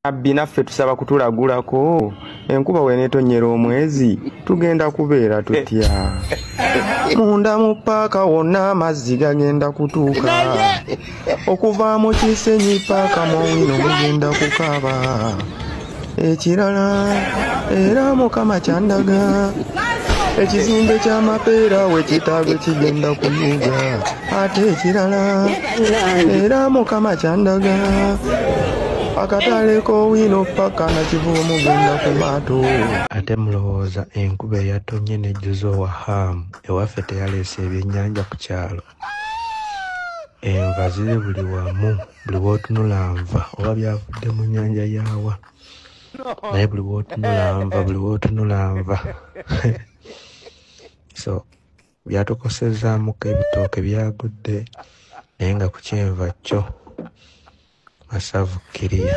abbi naffe tusaba kutulagulako enkuba wenetonnyera omwezi tugenda kubeera tutya munda mu paaka wonna amazzi gagenda kutuuka okuva mu kisenyi paaka mu wino mugenda kukaaba ekirala era mukama kyandaga ekizimbe ky'amapeera we kitaago kigenda kuyuga ate ekirala era mukama kyandaga akatale k'owino paka nakivuba mugenda ku maato ate mulowooza enkuba eyatonye nejjuza owa haamu ewaffe teyaleese ebyennyanja ku kyalo enva ziri buli wamu buli wotunula nva oba byavudde mu nyanja yawa naye buli wotunula nva buli wotunula nva so byatukosezamuko ebitooke byagudde naye nga ku kyenva kyo masavu kiriya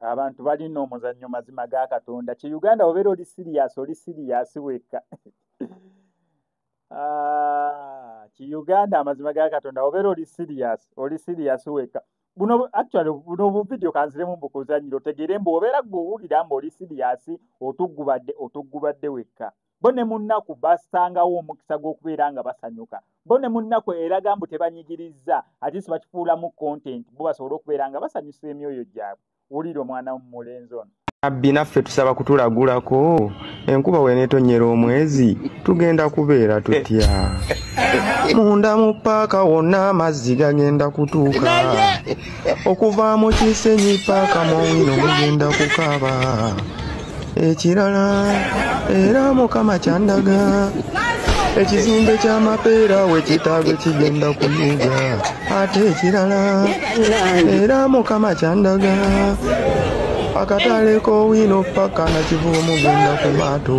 abantu balina omuzannyo mazima ga katonda ki uganda obeera oli siriyasi oli siriyasi wekka ah, ki uganda amazima ga katonda obeera oli siriyasi oli siriyasi wekka buno actually buno obuvidiyo kanziremu mbukuzanyira otegeere mbu obeera gwe owulira mbu oli siriyasi otuggubadde otuggubadde wekka bo ne mu nnaku basangawo omukisa gw'okubeera nga basanyuka bo ne mu nnaku eraga mbu tebanyigirizza ate si bakifuulamu kontenti bo basobole okubeera nga basanyusa emyoyo gyabwe wulira omwana womumulenzi ono abbi naffe tusaba kutulagulako enkuba wenetonnyera omwezi tugenda kubeera tutya munda mu paaka wonna amazzi gagenda kutuuka okuva mu kisenyi paaka mu wino mugenda kukaaba ekirala era mukama kyandaga ekizimbe ky'amapeera we kitaago kigenda kuyuga ate ekirala era mukama kyandaga akatale k'owino paka na kivubo mugenda ku maato